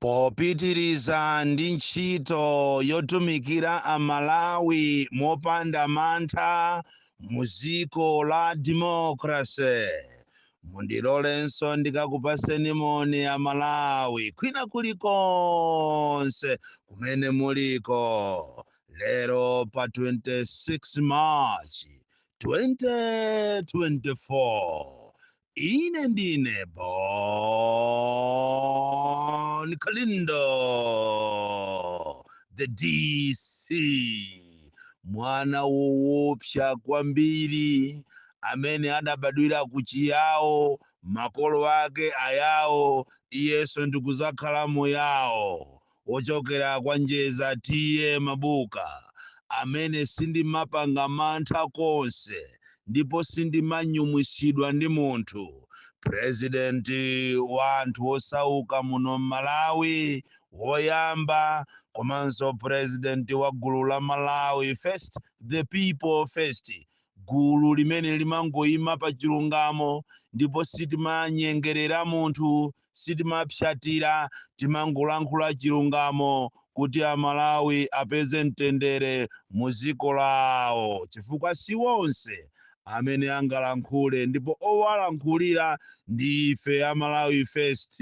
Popitiriza ndi ntchito yotumikira Amalawi mopanda mantha mu dziko la democracy, mundilolenso ndikakupatseni moni Amalawi kwina kulikonse kumene muliko lero pa 26 March 2024. Ine ndine Bon Kalindo, the DC, mwana woopsa kwambiri amene adabadwira ku Chiyawo, makolo ake ayawo, iyenso ndikuzakhala Muyawo. wochokera kwa Njeza TA Mabuka amene sindimapanga mantha konse ndipo sindimanyumwisidwa ndi munthu, president wa anthu osauka muno m'Malawi woyamba komanso president wa gulu la Malawi First the People First, gulu limene limangoima pa chilungamo ndipo sitimanyengerera munthu. sitimapsyatira timangolankhula chilungamo kuti amalawi apeze mtendere mu ziko lawo chifukwa siwonse amene angalankhule ndipo owalankhulira ndi ife amalawi first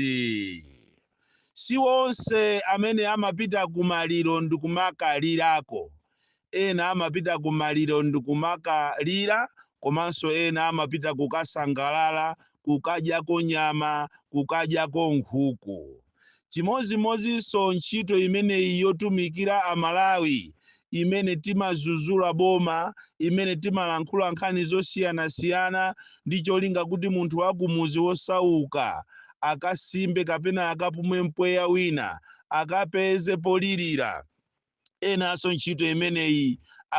siwonse amene amapita kumaliro ndikumakalirako Ena amapita ku maliro ndi kumakalira komanso ena amapita kukasangalala, kukadyako nyama, kukadyako nkhuku. Chimodzimodzinso ntchito imeneyi yotumikira Amalawi imene timadzudzula boma, imene timalankhula nkhani zosiyanasiyana ndi cholinga kuti munthu wakumudzi wosauka akasimbe kapena akapume mpweya wina, akapeze polilira. Enanso ntchito imeneyi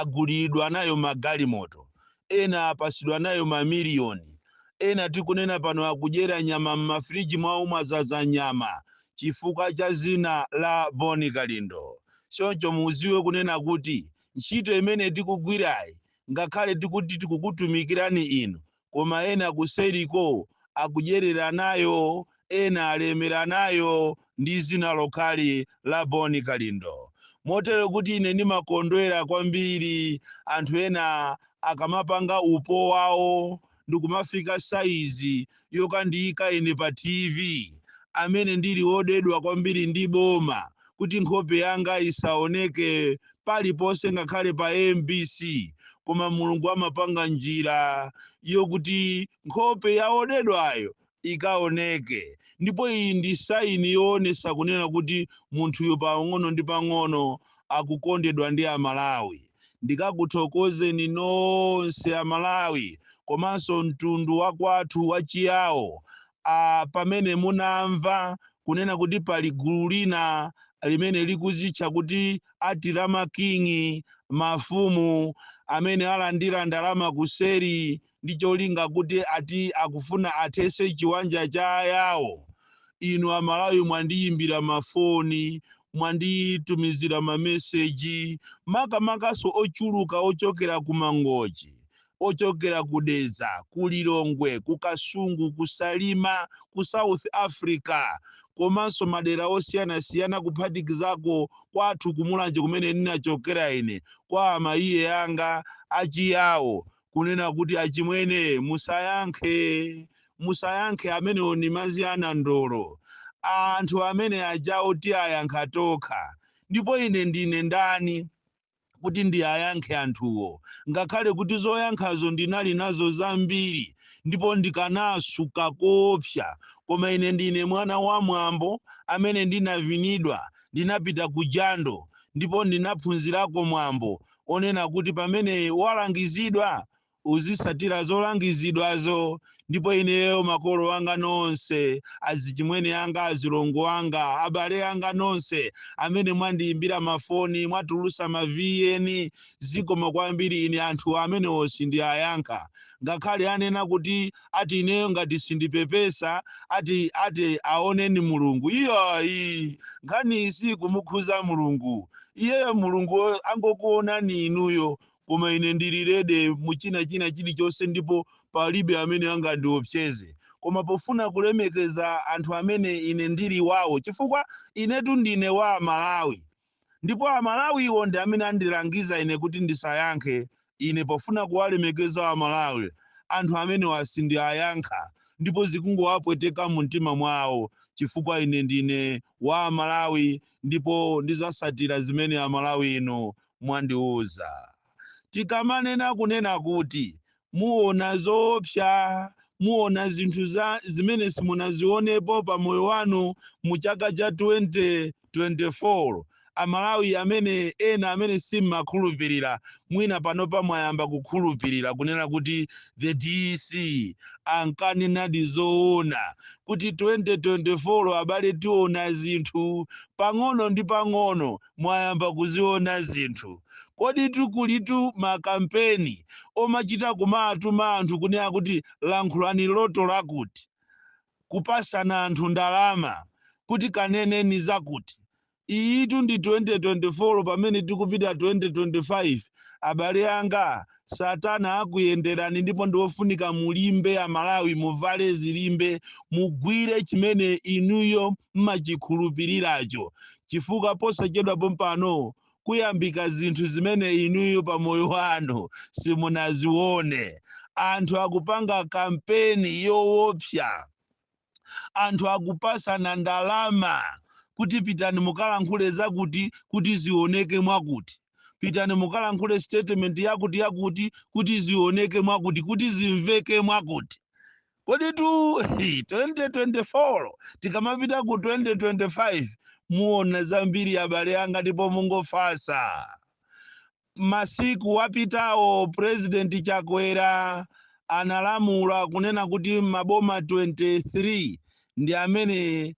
aguliridwa nayo magalimoto, ena apatsidwa nayo mamiliyoni, ena tikunena pano akudyera nyama m'mafiriji mwawo mwadzaza nyama chifukwa cha dzina la Bon Kalindo. Choncho mudziwe kunena kuti ntchito imene tikugwirayi ngakhale tikuti tikukutumikirani inu, koma ena kuseriko akudyerera nayo, ena alemera nayo, ndi dzina lokhali la Bon Kalindo. Motero kuti ine ndimakondwera kwambiri anthu ena akamapanga upo wawo ndikumafika saizi yokandiyika ine pa TV, amene ndili wodedwa kwambiri ndi boma, kuti nkhope yanga isaoneke paliponse ngakhale pa mbc koma mulungu amapanga njira yokuti nkhope ya odedwayo ikaoneke ndipo iyi ndi saini yoonesa kunena kuti munthuyo pang'ono ndi pang'ono akukondedwa ndi amalawi ndikakuthokozeni nonse amalawi komanso mtundu wakwathu wachiyawo a pamene munamva kunena kuti pali gulu lina limene likuzitcha kuti ati la making mafumu amene alandira ndalama kuseri ndi cholinga kuti ati akufuna athese chiwanja cha ayawo inu amalawi mwandiyimbira mafoni mwanditumizira mameseji makamakanso ochuluka ochokera ku mangochi ochokera ku Dedza, ku Lilongwe, ku Kasungu, ku Salima, ku South Africa komanso madera osiyanasiyana kuphatikizako kwathu ku Mulanje kumene ndinachokera ine kwa amayi anga achiyawo kunena kuti achimwene musayankhe musayankhe amenewo ni mazi anandolo anthu amene achawo tiayankha tokha ndipo ine ndine ndani kuti ndiayankhe anthuwo, ngakhale kuti zoyankhazo ndinali nazo zambiri ndipo ndikanaasuka koopsa, koma ine ndine mwana wa mwambo amene ndinavinidwa, ndinapita ku jando ndipo ndinaphunzirako mwambo onena kuti pamene walangizidwa uzisatira zolangizidwazo ndipo ineyo makolo anga nonse azichimwene anga azilongo anga abale anga nonse amene mwandiyimbira mafoni mwatulusa ma vn zikomo kwambiri ine anthu amenewo sindiayankha ngakhale anena kuti ati ineyo ngati sindipepesa ati ati aoneni mulungu iyayi nkhaniyi sikumukhudza mulungu iyeyo mulungu angokuonani inuyo koma ine ndili ready mu china china chilichonse ndipo palibe amene angandiopseze koma pofuna kulemekeza anthu amene ine ndili wawo chifukwa inetu ndine wa amalawi ndipo amalawiwo ndi amene andilangiza ine kuti ndisayankhe ine pofuna kuwalemekeza amalawi anthu amenewa sindiayankha ndipo zikungowapweteka mu mtima mwawo chifukwa ine ndine wa amalawi ndipo ndizasatira zimene amalawi inu mwandiuza. Tikamanena kunena kuti muona zoopsa, muona zinthu zimene simunazionepo pa moyo wanu mu chaka cha 2024 amalawi amene ena amene simmakhulupirira mwina panopa mwayamba kukhulupirira kunena kuti the DC ankanenadi zoona kuti 2024 abale tiona zinthu pang'ono ndi pang'ono mwayamba kuziona zinthu. Koditu kulitu makampeni omachita kumawatuma anthu kunena kuti lankhulani loto lakuti, kupasana anthu ndalama kuti kaneneni zakuti. Iyitu ndi 2024 pamene tikupita 2025 abale anga. satana akuyenderani ndipo ndiwofunika mulimbe amalawi muvale zilimbe mugwire chimene inuyo mmachikhulupiriracho chifukwa posachedwa pompano kuyambika zinthu zimene inuyo pa moyo wanu simunazione anthu akupanga kampeni yowopsa anthu akupasana ndalama kuti pitani mukalankhule zakuti kuti zioneke mwakuti pitani mukalankhule statement yakuti yakuti kuti zioneke mwakuti kuti zimveke mwakuti koditu 2024 tikamapita ku 2025 muona zambiri abale anga ndipo mungofasa Masiku apitawo President Chakwera analamula kunena kuti maboma 23 ndi amene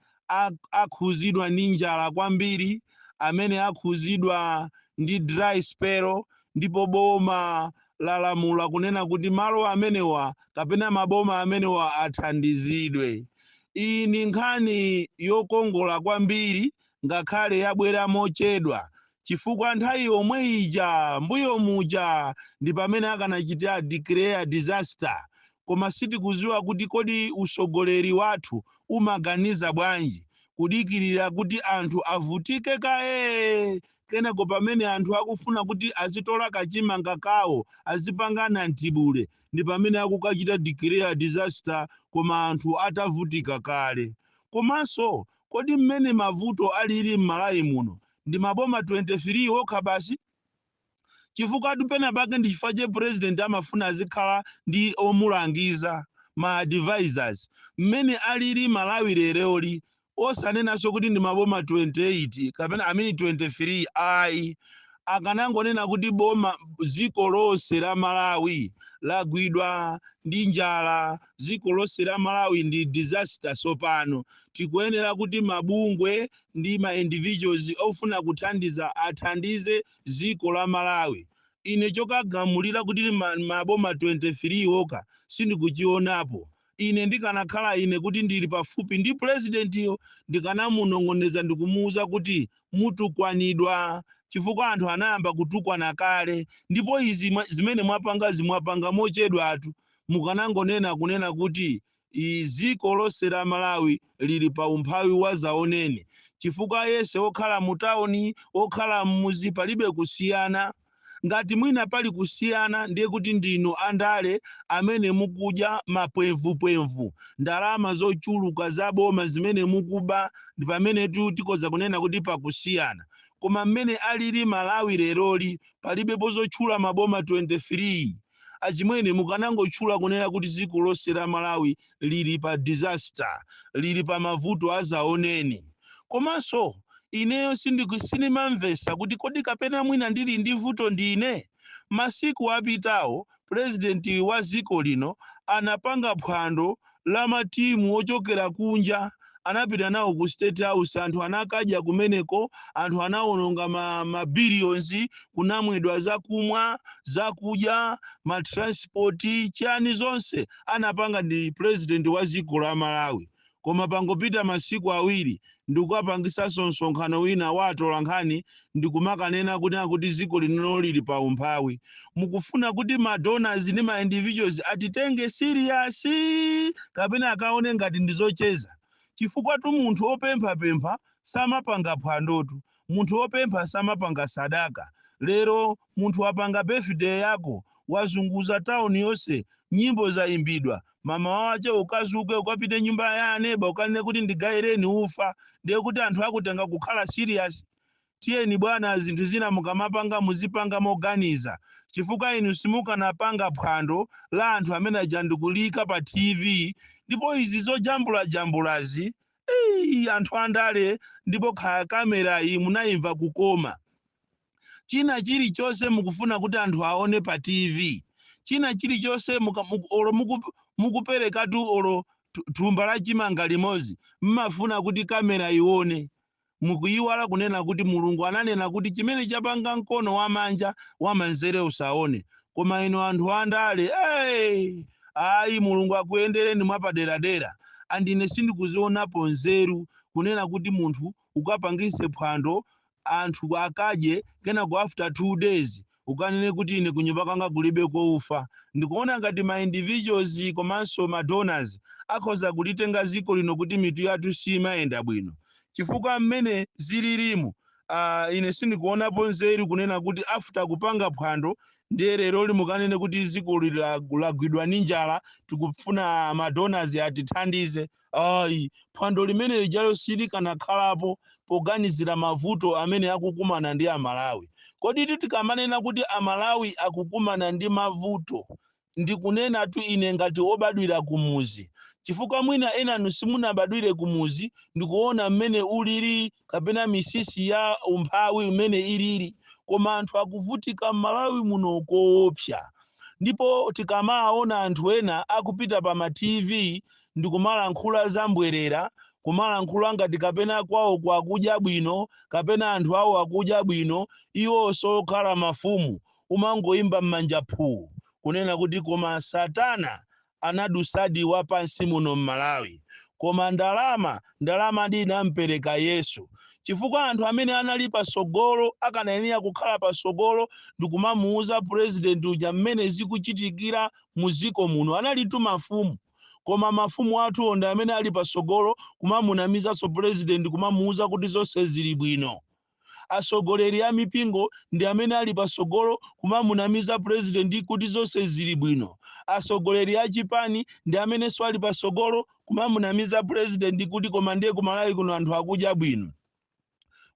akhuzidwa ndi njala kwambiri, amene akhuzidwa ndi dry spell ndipo boma lalamula kunena kuti malo amenewa kapena maboma amenewa athandizidwe. Iyi ndi nkhani yokongola kwambiri ngakhale yabwera mochedwa chifukwa nthawi yomwe ija mbuyo muja ndi pamene akanachitira declare disaster koma sitikuziwa kuti kodi usogoleri wathu umaganiza bwanji kudikirira kuti anthu avutike kaye kenako pamene anthu akufuna kuti azitola kachimanga kawo azipanga mtibule ndi pamene akukachita declare disaster koma anthu atavutika kale komanso Kodi mmene mavuto alili m'Malawi muno ndi maboma 23 okha basi? Chifukwatu penapake ndi chifukwa che president amafuna azikhala ndi omulangiza, ma advisors, mmene alili Malawi leroli osanenanso kuti ndi maboma 28 kapena I mean 23 ayi. Akanangonena kuti boma dziko lonse la Malawi lagwidwa ndi njala. dziko lonse la malawi ndi disaster tsopano tikuyenera kuti mabungwe ndi ma individuals ofuna kuthandiza athandize dziko la malawi ine chokagamulira kuti maboma 23 woka sindikuchionapo ine ndikanakhala ine kuti ndili pafupi ndi pulezidentiyo ndikanamunong'oneza ndikumuwuza kuti mutukwanidwa chifukwa anthu anayamba kutukwana kale ndipo izi zimene mwapangazi mwapanga mochedwatu mukanangonena kunena kuti dziko lonse la Malawi lili pa umphawi wa zaoneni chifukwa aliyense okhala mu town okhala mmuzi palibe kusiyana ngati mwina pali kusiyana ndiye kuti ndinu andale amene mukudya mapwemvupwemvu ndalama zochuluka za boma zimene mukuba ndi pamenetu tikhoza kunena kuti pakusiyana koma mmene alili Malawi leroli palibepo zotchula maboma 23 Achimwene mukanangotchula kunena kuti ziko lonse la Malawi lili pa disaster, lili pa mavuto azaoneni. Komanso ineyo sindimamvesa kuti kodi kapena mwina ndili ndi vuto ndine? Masiku apitawo president wa ziko lino anapanga phwando la matimu ochokera kunja anapita nawo ku state house anthu anakadya kumeneko anthu anawononga ma billions kunamwedwa zakumwa zakudya ma transport chani zonse anapanga ndi president wa dziko la malawi koma pangopita masiku awiri ndikukapangisanso msonkhano wina wa atolankhani ndikumakanena kunena kuti dziko lino lili pa umphawi. Mukufuna kuti ma donors ndi ma individuals atitenge serious kapena akuone ngati ndizocheza? Chifukwatu munthu opemphapempha samapanga phwandotu. Munthu wopempha samapanga sadaka. Lero munthu wapanga birthday yako, wazunguza town yonse, nyimbo zaimbidwa, mamawa wache ukazuke ukapite kunyumba ya aneba ukanene kuti ndigaireni ufa, ndiye kuti anthu akutenga kukhala serious? Tiyeni bwana zinthu zina mukamapanga muzipanga moganiza, chifukwa inu simukanapanga phwando la anthu amene aja ndikuliika pa TV, ndipo izi zojambulajambulazi Iii anthu andale ndipo kaya camera yi munaimva kukoma. China chilichonse mukufuna kuti anthu aone pa TV. China chilichonse muka muku olo muku mukuperekatu olo thumba la chimanga limodzi mmafuna kuti camera ione. Mukuiwala kunena kuti Mulungu ananena kuti chimene chapanga mkono wamanja wamanzere usaone. Koma inu anthu andale ee! Ayi Mulungu akuyendereni mwapaderadera and ine sindikuzionapo nzeru kunena kuti munthu ukapangise phwando anthu akadye kenako after two days ukanene kuti ine kunyumba kwanga kulibeko ufa. Ndikuona ngati kuti ma individuals komanso ma donors akhoza kulitenga dziko lino kuti mitu yathu siimayenda bwino chifukwa mmene zililimu uh, ine sindikuonapo nzeru kunena kuti after kupanga phwando ndiye lero limukanene kuti dziko lila- lagwidwa ndi njala tikufuna ma donors atithandize Ayi, phwando limene lijalo silikanakhalapo poganizira mavuto amene akukumana ndi Amalawi. Koditu tikamanena kuti Amalawi akukumana ndi mavuto, ndikunenatu ine ngati wobadwira kumudzi, chifukwa mwina enanu simunabadwire kumudzi ndikuona mmene ulili kapena mitsitsi ya umphawi mmene ilili, koma anthu akuvutika m'Malawi muno koopsa. Ndipo tikamaona anthu ena akupita pa ma TV ndikumalankhula za mbwerera, kumalankhula ngati kapena kwawoko akudya bwino, kapena anthu awo akudya bwino, iwonso okhala mafumu, umangoimba m'manja phuu, kunena kuti koma satana anadusadi wapansi muno m'Malawi. Koma ndalama, ndalamadi inampereka Yesu. Chifukwa anthu amene anali patsogolo, akanayenera kukhala patsogolo ndikumamuuza president uja mmene zikuchitikira mu dziko muno, analitu mafumu. koma mafumu athuwo ndi amene ali patsogolo kumamunamizanso president kumamuuza kuti zonse zili bwino. Atsogoleri a mipingo ndi amene ali patsogolo kumamunamiza president kuti zonse zili bwino. Atsogoleri a chipani ndi amenenso ali patsogolo kumamunamiza president kuti koma ndiye ku Malawi kuno anthu akudya bwino.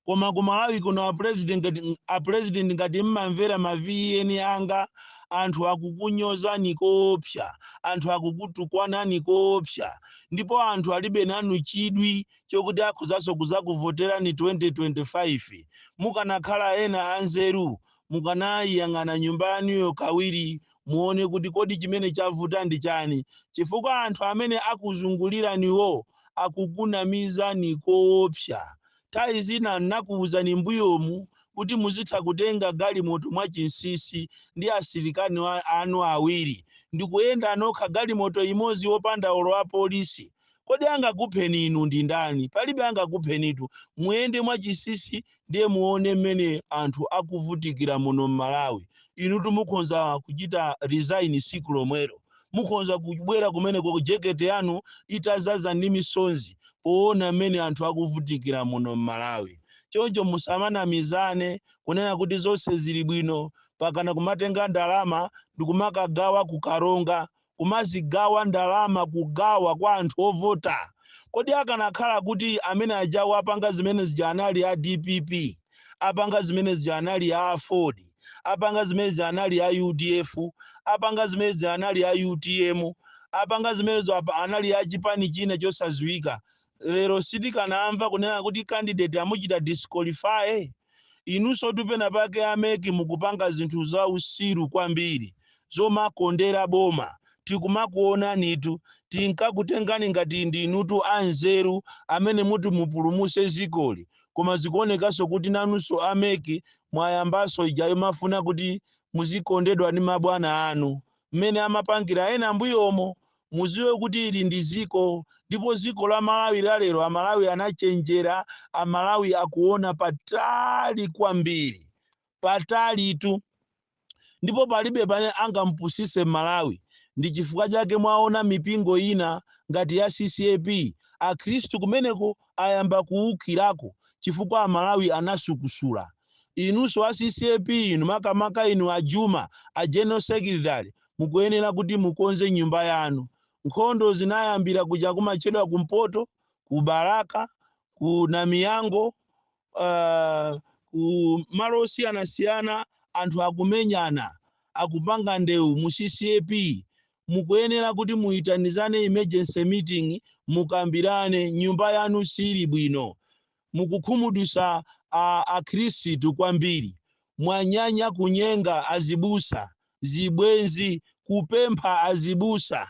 koma ku malawi kuno apresident ngati- apresident ngati mmamvera ma VN anga anthu akukunyozani koopsa anthu akukutukwanani koopsa ndipo anthu alibe nanu chidwi chokuti akhozaso kuzakuvoterani 2025 mukanakhala ena anzeru mukanayiyang'ana nyumba yanuyo kawiri muone kuti kodi chimene chavuta ndi chani chifukwa anthu amene akuzunguliraniwo akukunamizani koopsa. Thawi zina nnakuwuzani mbuyomu kuti muzitha kutenga galimoto mwa chinsisi ndi asilikali anu awiri ndikuyenda nokha galimoto imodzi opanda olo a polisi. Kodi angakupheni inu ndi ndani? Palibe angakuphenitu. Muyende mwa chinsinsi Ndiye muone mmene anthu akuvutikira muno mmalawi. Inutu mukhonza kuchita resign siku lomwelo. Mukhonza kubwera kumeneko jeket yanu itazaza ndi misonzi poona mmene anthu akuvutikira muno mmalawi. Choncho musamanamizane kunena kuti zonse zili bwino pakana kumatenga ndalama ndikumakagawa ku karonga kumazigawa ndalama kugawa kwa anthu ovota kodi akanakhala kuti amene ajawo apanga zimene zija anali a dpp apanga zimene zija anali a aford apanga zimene zija anali a udf apanga zimene zija anali a utm apanga zimenezo anali a chipani china chosaziwika lero sitikanamva kunena kuti candidate amuchita disqualify Inunsotu pena pake a mec mukupanga zinthu za usiru kwambiri zomakondera boma tikumakuonanitu tinkakutengani ngati ndinutu a nzeru amene muti mupulumuse zikoli koma zikuonekanso kuti nanunso a mec mwayambaso ija yomafuna kuti muzikondedwa ndi mabwana anu mmene amapangira ena ambuyomo muziwe kuti ili ndi ziko ndipo ziko la malawi la lero amalawi anachenjera amalawi akuona patali kwambiri patalitu ndipo palibe amene angampusise mmalawi ndi chifukwa chake mwaona mipingo ina ngati ya ccap akhristu kumeneko ayamba kuukirako chifukwa amalawi anasukusula inunso a ccap inu makamaka inu a juma a general secretary mukuyenera kuti mukonze nyumba yanu. Nkhondo zinayambira kuja kumatchedwa kumpoto, ku Balaka, ku Namiyango, uh, ku malo osiyanasiyana anthu akumenyana akupanga ndewu mu CCAP mukuyenera kuti muyitanizane emergency meeting mukambirane nyumba yanu sili bwino mukukhumudwisa akhristu kwambiri. Mwanyanya kunyenga azibusa, zibwenzi, kupempha azibusa.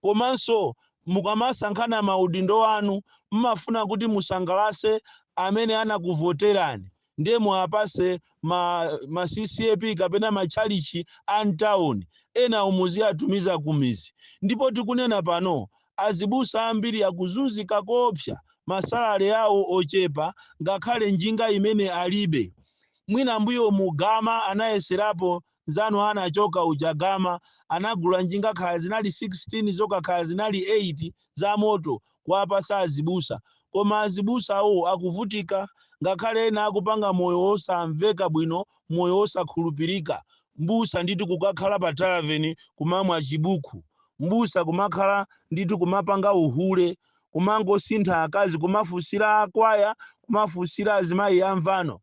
Komanso mukamasankhana maudindo anu mmafuna kuti musangalase amene anakuvoterani ndiye muwapase ma, ma ccap kapena matchalichi a mtown enawo muziwatumiza kumizi ndipo tikunena pano azibusa ambiri akuzunzika koopsa masalale awo ochepa ngakhale njinga imene alibe mwina mbuyomu Gama anayeserapo nzanu anachoka uja Gama anagula njinga kaya zinali 16 zoka kaya zinali 8 zamoto kuwapasa azibusa koma azibusawo akuvutika ngakhale ena akupanga moyo wosamveka bwino moyo wosakhulupirika mbusa ndithu kukakhala pa tavern kumamwa chibuku mbusa kumakhala ndithu kumapanga uhule kumangosintha akazi kumafunsira akwaya kumafunsira azimayi amvano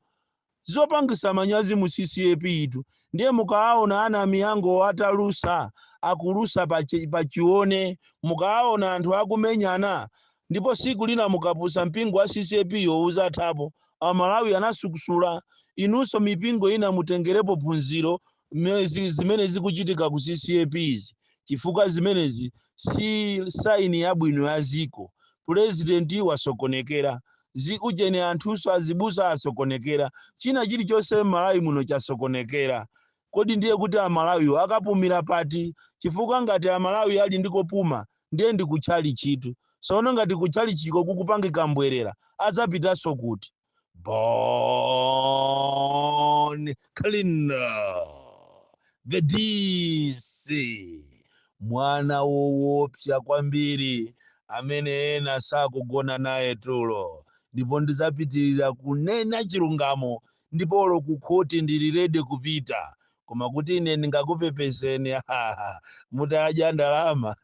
zopangisa manyazi mu ccap tu ndiye mukawaona a Namiyangowo atalusa akulusa pa chi- pa chione mukawaona anthu akumenyana ndipo siku lina mukapusa mpingo wa ccap yo uzathapo amalawi anasukusula inunso mipingo ina mutengerepo phunziro mmene zi- zimene zikuchitika ku ccap izi chifukwa zimenezi si saini yabwino ya dziko pulezidenti wasokonekera zikuchedwa nthunso azibusa asokonekera china chilichonse m'malawi muno chasokonekera kodi ndiye kuti amalawiwo akapumira pati chifukwa ngati amalawi ali ndi kopuma ndiye ndi kutchalichitu sono ngati kutchalichiko kukupangika mbwerera adzapitanso kuti Born Kalindo. The DC. Mwana woopsa kwambiri amene ena sakugona naye tulo. Ndipo ndidzapitirira kunena chilungamo ndipo olo kukhoti ndili ready kupita koma kuti ine ndingakupepezeni haha, mutadya ndalama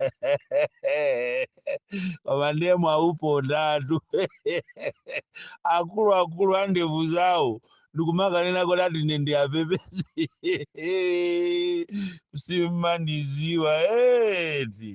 koma ndiye mwaupondatu akuluakulu a ndevu zawo ndikumakanena kuti ati ine ndiyapepeze simmandidziwa eti